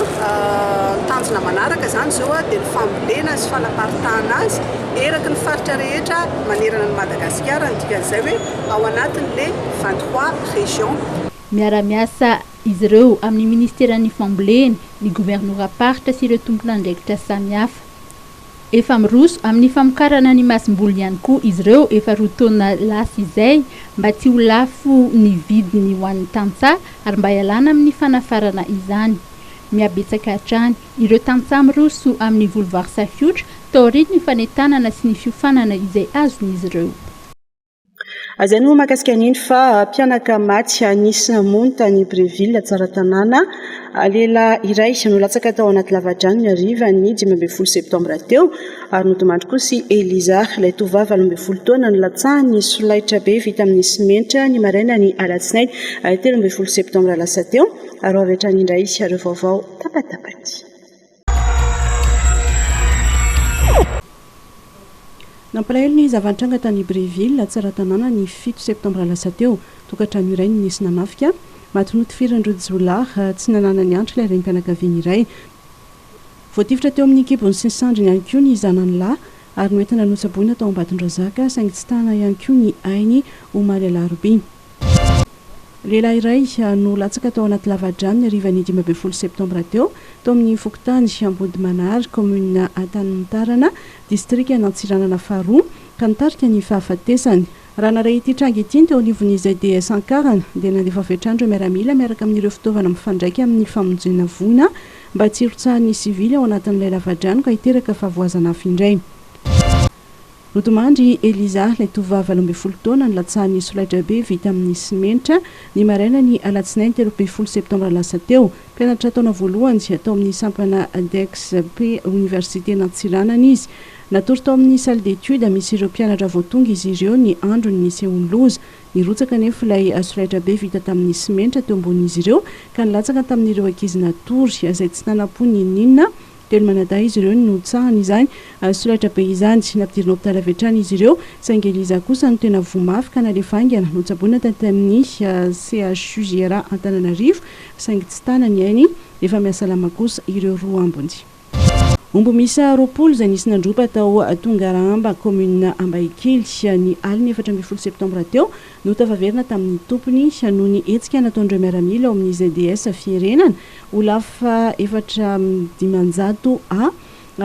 tanjona manaraka izany izao dia ny fambolena sy fanaparitahana azy eraky ny faritra rehetra manerana ny Madagasikara ny dikan'izay hoe ao anatin'le vingt trois régions Miara-miasa izy ireo amin'ny Ministeran'ny Fambolena, ny Governoram-paritra sy ireo tompon'andraikitra samihafa. Efa miroso amin'ny famokarana ny masomboly ihany koa izy ireo efa roa taona lasa izay mba tsy ho lafo ny vidiny ho an'ny tantsaha ary mba hialana amin'ny fanafarana izany. Mihabetsaka hatrany ireo tantsaha miroso amin'ny voly vary safiotra taorian'ny fanentanana sy ny fiofanana izay azon'izy ireo. Aza ny moa makasika an'iny fa mpianaka maty anisy mony tany Breville, Tsaratanàna. Lehilahy iray no latsaka tao anaty lavadrano ny harivan'ny dimy ambin'ny folo septambra teo ary nodimandry kosa i Eliza, ilay tovovavy valo ambin'ny folo taona nlatsahan'ny solaitra be vita amin'ny simenitra ny marainan'ny alatsinainy telo ambin'ny folo septambra lasa teo. Ary ho avy hatrany indray ireo vaovao tapatapaky. Nampalahelo ny zava-nitranga tany Brieville, Tsaratanàna, ny fito septambra lasa teo. Tokantrano iray no nisy nanafika. Maty notifirin'ireo jiolahy tsy nananany antra ilay renim-pianakaviana iray. Voatifitra teo amin'ny kibony sy ny sandriny ihany koa ny zanany lahy ary noentina notsaboina tao Ambatondrazaka, saingy tsy tana ihany koa ny ainy, omaly alarobia. Lehilahy iray no latsaka tao anaty lava-drano ny harivan'ny dimy ambin'ny folo septambra teo, tao amin'ny fokontany Ambodimanary, kaominina Antanimontarana, distrikan'Antsiranana faharoa, ka nitarika ny fahafatesany. Raha nary ity tranga ity ny teo anivon'ny ZDS Ankarana, dia nandefa avy hatrany ireo miaramila miaraka amin'ireo fitaovana mifandraika amin'ny famonjena voina mba tsy hirotsahan'ny sivily ao anatin'ilay lava-drano ka hiteraka fahavoazan'afo indray. Nodimandry Eliza, ilay tovovavy valo ambin'ny folo taona, ny latsahan'ny solaitrabe vita amin'ny simenitra, ny marainan'ny alatsinainy telo ambin'ny folo septambra lasa teo. Mpianatra taona voalohany tao amin'ny sampana DEXP Oniversiten'Antsiranana izy. Natory tao amin'ny salle d'études misy ireo mpianatra vao tonga izy ireo ny andron'ny nisehoan'ny loza. Nirotsaka anefa ilay solaitrabe vita tamin'ny simenitra teo ambonin'izy ireo ka nilatsaka tamin'ireo ankizy natory, izay tsy nanam-po n'inon'inona. Teny manadahy izy ireo ny nohitsahany izany solaitra be izany. Nampidirina hopitaly avy hatrany izy ireo, saingy Eliza kosa no tena voa mafy ka nalefa haingana. Notsaboina taty amin'ny CHUJRA Antananarivo, saingy tsy tana ny ainy. Efa mihasalama kosa ireo roa ambiny. Omby miisa roapolo izay nisy nandroba tao Tongarahamba, kaominina Ambaikely, ny alin'ny efatra ambin'ny folo septambra teo Notafaverina tamin'ny tompony noho ny hetsika nataon'ireo miaramila ao amin'ny ZDS Fierenana, Olaf efatra amby dimanjato A,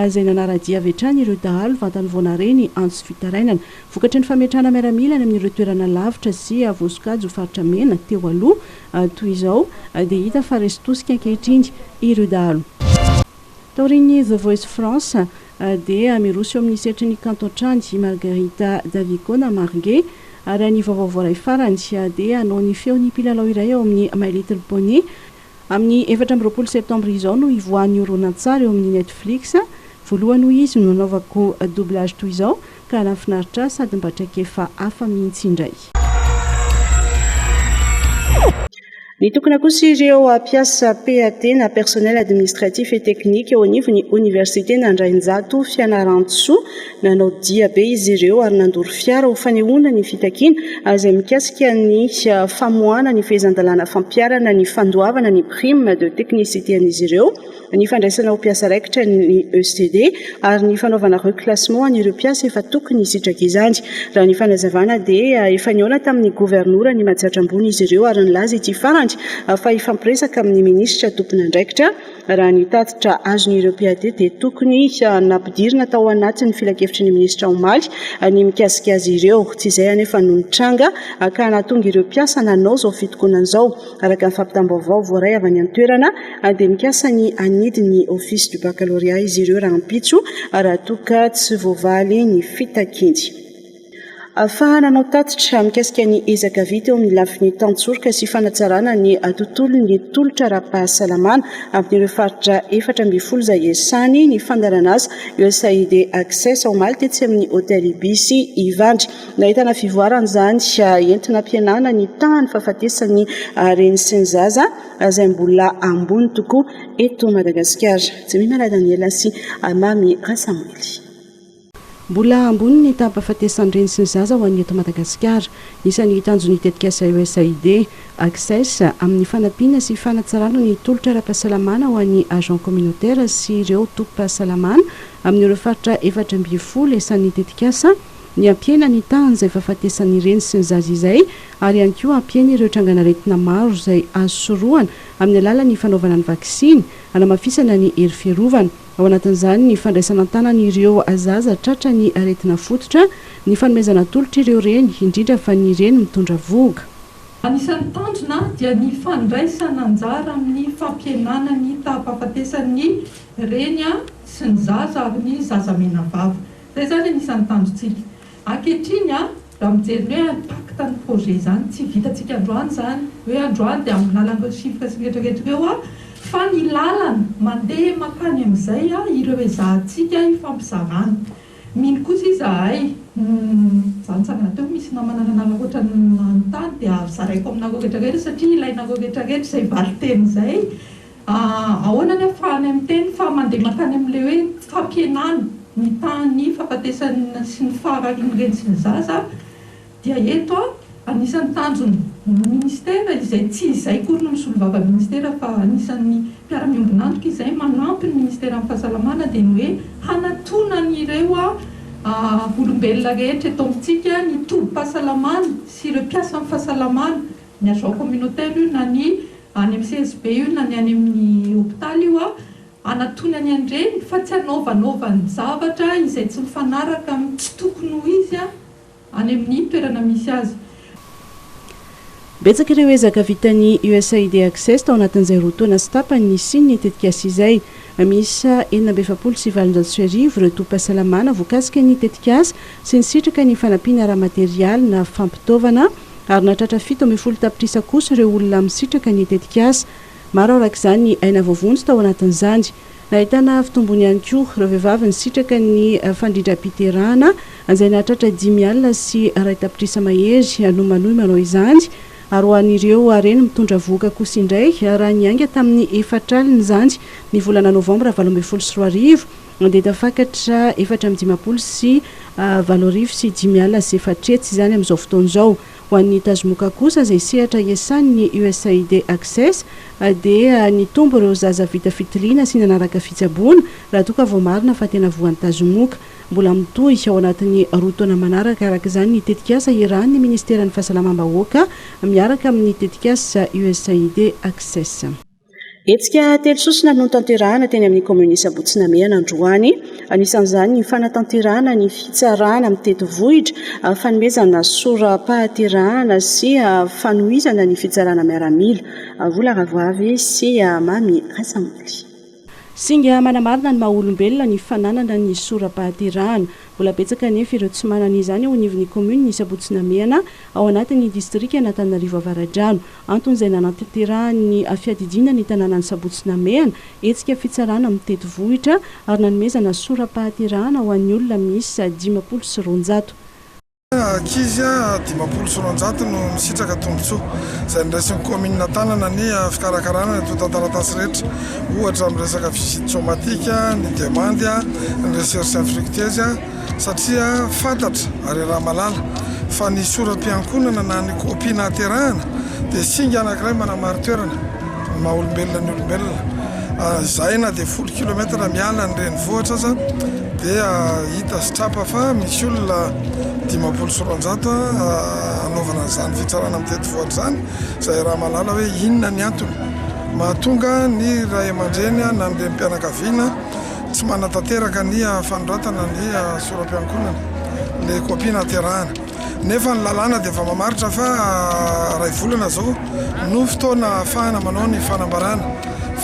izay nanara-dia avy hatrany ireo dahalo vantany vao nahare ny antso fitarainana. Vokatry ny fametrahana miaramila any amin'ireo toerana lavitra sy voasokajy ho faritra mena teo aloha, toy izao dia hita fa resy tosika ankehitriny ireo dahalo. Taorian'ny The Voice France, dia miroso eo amin'ny setry ny kanto hatrany i Margarita Davico na Marge, ary ny vaovao voaray farany dia hanao ny feon'ny mpilalao iray ao amin'ny My Little Pony. Amin'ny efatra amby roapolo septambra izao no hivoahan'ny horonantsary eo amin'ny Netflix. Voalohany hoy izy no nanaovako doublage toy izao. Ka raha finaritra ahy sady mba traikefa hafa mihitsy indray. Nitokona kosa ireo mpiasa PAT na personnel administratif et technique eo anivon'ny Oniversiten' Andrainjato Fianarantsoa. Nanao dia be izy ireo ary nandoro fiara ho fanehoana ny fitakiana izay mikasika ny famoahana ny fehezan-dalàna fampiharana ny fandoavana ny prime de technicité an'izy ireo ny fandraisana ho mpiasa raikitra ny ECD ary ny fanaovana reclassement an'ireo mpiasa efa tokony hisitraka izany. Raha ny fanazavana dia efa nihaona tamin'ny governoran'i Mahajatra Ambony izy ireo ary nilaza ity farany fa hifampiresaka amin'ny minisitra tompon'andraikitra raha ny tatitra azon'ireo PAD dia tokony nampidirina tao anatin'ny filankevitry ny minisitra omaly ny mikasika azy ireo. Tsy izay anefa no nitranga ka nahatonga ireo mpiasa nanao izao fitokonana izao. Araka ny fampitam-baovao voaray avy any an-toerana dia mikasa ny hanidy ny Office du Baccalauréat izy ireo rahampitso raha toa ka tsy voavaly ny fitakiany ahafahana hanao tatitra mikasika ny ezaka vita eo amin'ny lafiny tantsoroka sy fanatsarana ny tontolon'ny tolotra ara-pahasalamana amin'ireo faritra efatra ambin'ny folo izay iasany ny fandaharanasa USAID Access omaly tetsy amin'ny Hotel Ibis Ivandry. Nahitana fivoarana izany entina hampihenana ny tahan'ny fahafatesan'ny reny sy ny zaza izay mbola ambony tokoa eto Madagasikara. Jemimana Daniela sy Mamy Rasamoily. Mbola ambony ny taham-pahafatesan'ny reny sy ny zaza ho an'ny eto Madagasikara. Isan'ny tanjon'ny tetikasa USAID Access amin'ny fanampiana sy fanatsarana ny tolotra ara-pahasalamana ho an'ny agents communautaires sy ireo tobim-pahasalamana amin'ireo faritra efatra ambin'ny folo isan'ny tetikasa ny hampihena ny tahan'izay fahafatesan'ny reny sy ny zaza izay ary ihany koa hampihena ireo trangan'aretina maro izay azo sorohana amin'ny alalan'ny fanaovana ny vaksiny, hanamafisana ny hery fiarovana. Ao anatin'izany ny fandraisana an-tanana ireo zaza tratra ny aretina fototra, ny fanomezana tolotra ireo reny, indrindra fa ny reny mitondra vohoka. Anisan'ny tanjona dia ny fandraisana anjara amin'ny fampihenana ny taha-pahafatesan'ny reny sy ny zaza ary ny zaza menavava. Zay izany anisan'ny tanjontsika ankehitriny a! Raha mijery ny hoe impact ny projet izany, tsy vitantsika androany izany hoe androany dia amin'ny lalan'ireo chiffres sy ny rehetra rehetra ireo a! Fa ny lalana mandeha mankany amin'izay a! Ireo ezahantsika ifampizarana. Mino kosa izahay, izaho nitsangana teo misy namana nanaraka ohatran'ny nanontany dia zaraiko aminareo rehetra rehetra satria ilainareo rehetra rehetra izay valinteny izay. Ahoana ny ahafahanay miteny fa mandeha mankany amin'ilay hoe fampihenana ny tahan'ny fahafatesan'ny sy ny fahararin'ny reny sy ny zaza dia eto anisan'ny tanjon'ny Ministera izay tsy izay akory no misolovava ny Ministera fa anisan'ny mpiara-miombon'antoka izay manampy ny Ministera amin'ny fahasalamana dia ny hoe hanatona an'ireo olombelona rehetra eto amintsika ny tobim-pahasalamana sy ireo mpiasan'ny fahasalamana ny agent communautaire io na ny any amin'ny CSB io na ny any amin'ny hopitaly io hanatonany an'ireny fa tsy hanaovanaovany zavatra izay tsy mifanaraka amin'ny tsy tokony ho izy any amin'ny toerana misy azy. Betsaka ireo ezaka vitan'ny USAID Access tao anatin'izay roa taona sy tapany nisian'ny tetikasa izay. Miisa enina amby efapolo sy valonjato sy arivo ireo tobim-pahasalamana voakasika ny tetikasa sy nisitraka ny fanampiana ara-materialy na fampitaovana, ary nahatratra fito ambin'ny folo tapitrisa kosa ireo olona misitraka ny tetikasa. Maro araka izany ny aina voavonjy tao anatin'izany. Nahitana fitombony ihany koa ireo vehivavy nisitraka ny fandrindram-piterahana, izay nahatratra dimy alina sy iray tapitrisa mahery no manohy manao izany, ary ho an'ireo reny mitondra vohoka kosa indray, raha niainga tamin'ny efatra alina izany ny volana novambra valo ambin'ny folo sy roa arivo. Mandeha tafakatra efatra amby dimampolo sy valo arivo sy dimy alina sy efatra hetsy izany amin'izao fotoana izao. Ho an'ny Tazomoka kosa, izay sehatra iasan'ny Usaid Access, dia nitombo ireo zaza vita fitiliana sy nanaraka fitsaboana, raha toa ka voamarina fa tena voan'ny Tazomoka. Mbola mitohy ao anatin'ny roa taona manaraka araka izany ny tetikasa iarahan'ny Ministeran'ny Fahasalamam-bahoaka miaraka amin'ny tetikasa Usaid Access. Hetsika telo sosona no notanterahina teny amin'ny kaominina Isaboto sy Namehana androany. Anisan'izany ny fanatanterahana ny fitsarana mitety vohitra, fanomezana sora-pahaterahana sy fanohizana ny fitsarana miaramila. Vola rahavavy sy mamy rasamboly. Singa manamarina ny maha olombelona ny fananana ny sora-pahaterahana. Mbola betsaka anefa ireo tsy manana izany eo anivon'ny kaominina Isaboto sy Namehana ao anatin'ny distrikan'Antananarivo Avaradrano. Antony izay nanatanterahan'ny fiadidiana ny tanànan'i Sabotsy Namehana hetsika fitsarana mitety vohitra ary nanomezana sora-pahaterahana ho an'ny olona miisa dimampolo sy roanjato. Ankizy dimampolo sy roanjato no nisitraka tombontsoa izay noraisin'ny kaominina Tanana ny fikarakarana ny antontan-taratasy rehetra, ohatra amin'ny resaka visite somatique, ny demande, ny recherche infructueuse. satria fantatra ary ramalala fa ny soram-piankonana na ny kopia nahaterahana dia singa anankiray manamari-toerana ny maha olombelona ny olombelona. Ah, izay na dia folo kilometatra miala ny renivohitra aza dia hita sy trapa fa misy olona dimampolo sy roanjato hanaovana an'izany fitsarana amin'ny tetivohitra izany, izay ramalala hoe inona ny antony mahatonga ny ray aman-dreny na ny renim-pianakaviana Tsy manatanteraka ny fanoratana ny sora-piankohonana ilay kopia nahaterahana, nefa ny lalàna dia efa mamaritra fa iray volana izao no fotoana ahafahana manao ny fanambarana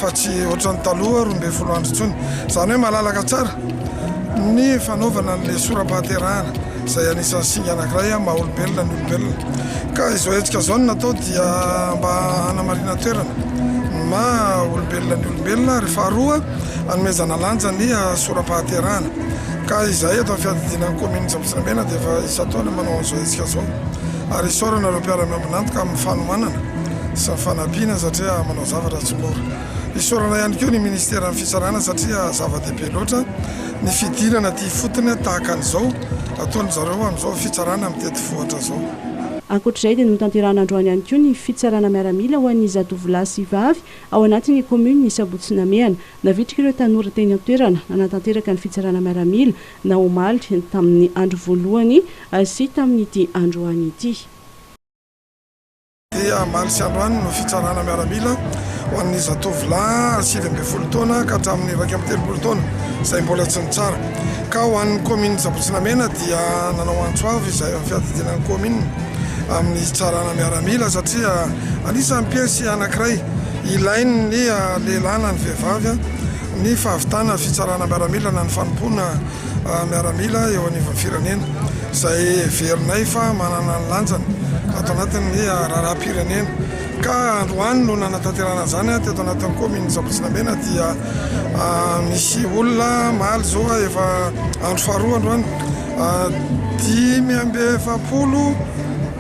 fa tsy ohatran'ny taloha roa ambin'ny folo andro intsony. Izany hoe malalaka tsara ny fanaovana an'ilay sora-pahaterahana izay anisan'ny singa anankiray maha olombelona ny olombelona. Ka izao hetsika izao no natao dia mba hanamarinan-toerana ny maha olombelona ny olombelona ary faharoa, hanomezana lanja ny sora-pahaterahana ka izahay eto amin'ny fiadidiana ny kaominina Antsambotsinamena dia efa isan-taona manao an'izao hetsika izao ary isaorana ireo mpiara-miombon'antoka amin'ny fanohanana sy ny fanampiana satria manao zavatra tsy mora. Isaorana ihany koa ny minisiteran'ny fitsarana satria zava-dehibe loatra ny fidirana aty ifotony tahaka an'izao ataon-dry zareo amin'izao fitsarana mitety vohitra izao. Ankoatr'izay dia notanterahina androany ihany koa ny fitsarana miaramila ho an'ny zatovolahy sy vavy Ao anatin'ny kaominina i Sabotsy Namehana, navitrika ireo tanora teny an-toerana nanatanteraka ny fitsarana miaramila na omaly tamin'ny andro voalohany sy tamin'ity androany ity. Dia omaly sy androany no fitsarana miaramila ho an'ny zatovolahy sivy ambin'ny folo taona ka hatramin'ny iraika amby telopolo taona izay mbola tsy nitsara. Ka ho an'ny kaominin'i Sabotsy Namehana dia nanao antso avo izay fiadidiana ny kaominina. amin'ny hitsarana miaramila satria anisan'ny piesy anankiray ilain'ny lehilahy na ny vehivavy ny fahavitana fitsarana miaramila na ny fanompoana miaramila eo anivon'ny firenena izay heverinay fa manana ny lanjany ato anatin'ny raharaham-pirenena ka androany no nanatanterana izany teto anatin'ny kaominina Sampotsinamena dia misy olona maly zao efa andro faharoa androany Dimy amby efapolo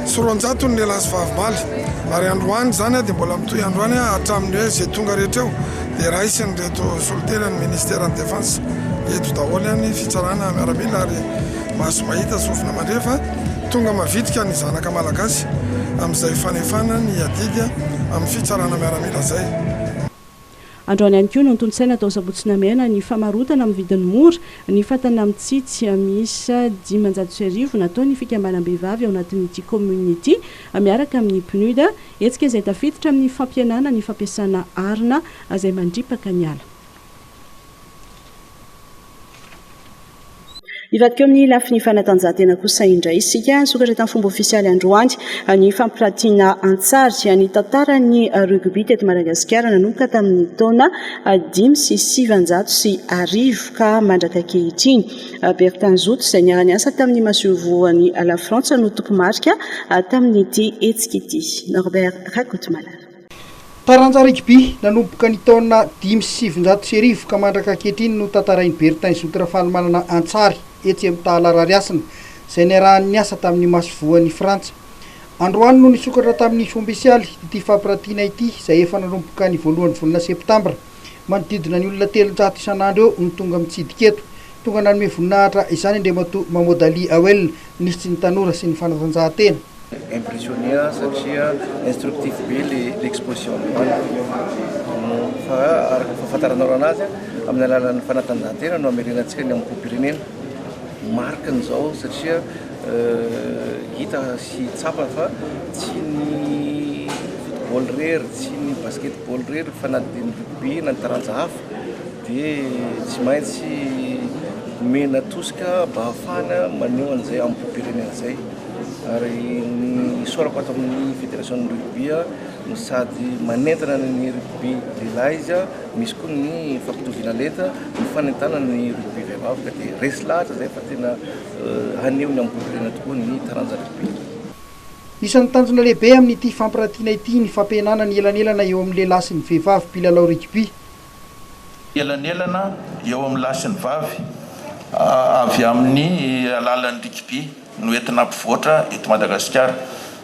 sy roanjato ny lehilahy sy vavimbaly ary androany izany dia mbola mitohy androany hatramin'ny hoe izay tonga rehetra eo dia raisin'ireto soliteny ny ministeran'ny defense eto daholo any fitsarana miaramila ary maso mahita sofina mandre fa tonga mavitrika ny zanaka malagasy amin'izay fanefana ny adidy amin'ny fitsarana miaramila izay Androany ihany koa no notontosaina tao Sabotsy Namehana ny famarotana amin'ny vidiny mora ny fatana mitsitsy miisa dimanjato sy arivo nataon'ny fikambanam-behivavy ao anatin'ity kaominina ity miaraka amin'ny PNUD, hetsika izay tafiditra amin'ny fampihenana ny fampiasana arina izay mandripaka ny ala. Hivadika eo amin'ny lafiny fanatanjahantena kosa indray isika. Nisokatra tamin'ny fomba ofisialy androany ny fampiratiana an-tsary ny tantaran'ny rugby teto Madagasikara nanomboka tamin'ny taona dimy sy sivanjato sy arivo ka mandraka ankehitriny. Bertin Zoto izay niara-niasa tamin'ny masoivohon'i Lafrantsa no tompomarika tamin'ity hetsika ity. Norbert Rakotomalala. Taranja rugby nanomboka ny taona dimy sy sivinjato sy arivo ka mandraka ankehitriny no tantarain'i Bertin Zoky Rafalimanana Antsary etsy Amitahala Rarihasina izay niarahany niasa tamin'ny Masoivohon'i Frantsa. Androany no nisokatra tamin'ny Fombesialy ity fampirantiana ity izay efa nanomboka ny voalohany volana septambra. Manodidina ny olona telonjato isan'andro eo no tonga mitsidika eto. Tonga nanome voninahitra izany Andriamatoa Mahmoud Ali Awel, Minisitry ny Tanora sy ny Fanatanjahantena. Impressionné aho satria instructif be le l'exposition mihidy fa araka ny fahafantaranao raha nazy amin'ny alalan'ny fanatanjahantena no hamerenantsika ny amim-popirenena marque-ny zao satria Hita sy tsapa fa tsy ny football irery, tsy ny basketball irery fa na dia ny rugby na ny taranja hafa dia tsy maintsy omena tosika mba ahafahana maneho an'izay amim-poam-pirenena izay. Ary ny isaorako ato amin'ny fédération-n'ny rugby no sady manentana ny rugby lehilahy izy, misy koa ny fampitoviana lenta, ny fanentanana ny rugby vehivavy ka dia resy lahatra izay fa tena. Haneho ny ambolefirenena tokoa ny taranja lehibe. Isan'ny tanjona lehibe amin'ity fampirantiana ity ny fampihenana ny elanelana eo amin'ny lehilahy sy ny vehivavy mpilalao rugby. Elanelana eo amin'ny lahy sy ny vavy avy amin'ny alalan'ny rugby no entina hampivoatra eto Madagasikara.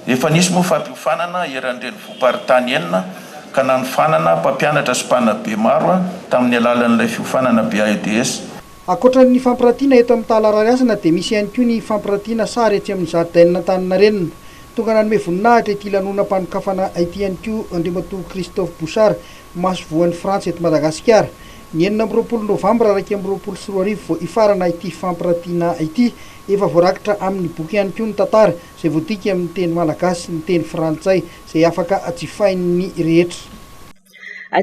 Efa nisy moa fampiofanana eran'ny renivohi-paritany enina ka nanofanana mpampianatra sy mpanabe maro tamin'ny alalan'ilay fiofanana BAEDS. Ankoatra ny fampirantiana eto amin'ny Tala Rarihasina dia misy ihany koa ny fampirantiana sary etsy amin'ny Zaridainan'Antaninarenina. Tonga nanome voninahitra ity lanonam-panokafana ity ihany koa Andriamatoa Christophe Bouchard, Masoivohon'i Frantsa eto Madagasikara. Ny enina amby roapolo novambra iraika amby roapolo sy roa arivo vao hifarana ity fampirantiana ity. Efa voarakitra amin'ny boky ihany koa ny tantara izay voadika amin'ny teny malagasy sy ny teny frantsay izay afaka jifain'ny rehetra.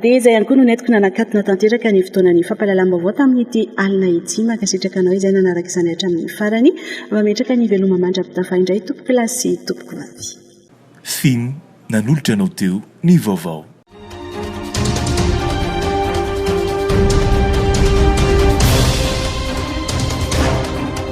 Dia izay ihany koa no nentiko nanakatona tanteraka ny fotoanan'ny fampahalalam-baovao tamin'ity alina ity. Mankasitraka anao izay nanaraka izany hatramin'ny farany. Mametraka ny veloma mandra-pitafa indray tompoko lahy sy tompoko vavy. Fin, nanolotra anao teo ny vaovao.